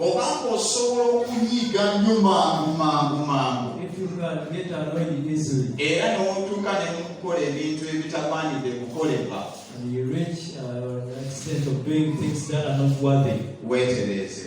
oba ng'osobola okunyiiga nnyo mangu mangu mangu era n'otuuka ne mu kukola ebintu ebitagwanidde kukolebwa weetereeze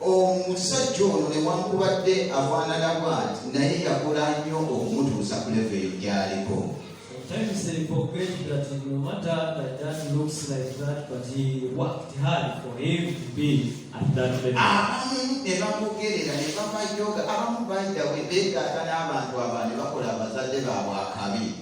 omusajja ono newankubadde afaanana bwati naye yakola nnyo okumutuusa ku levo eyo gyaliko Sometimes they forget that no matter that that looks like that, but he worked hard for him to be at that level. abamu ne bamugerera ne bamayoga abamu bayidawe beegaata n'abantu aba ne bakola abazadde baabwe akabi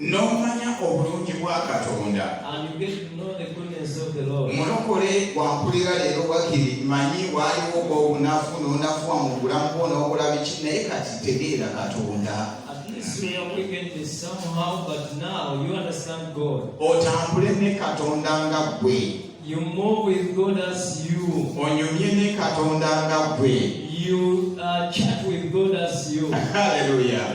n'omanya obulungi bwa katonda mulokole wampulira leero wakiri manyi waaliwo obunafu n'onafuwa mu bulamu bwo n'okola biki naye kati tegeera katonda otambule ne katonda nga ggwe You move with God as you. Onyumye ne Katonda nga gwe. You uh, chat with God as you. Hallelujah.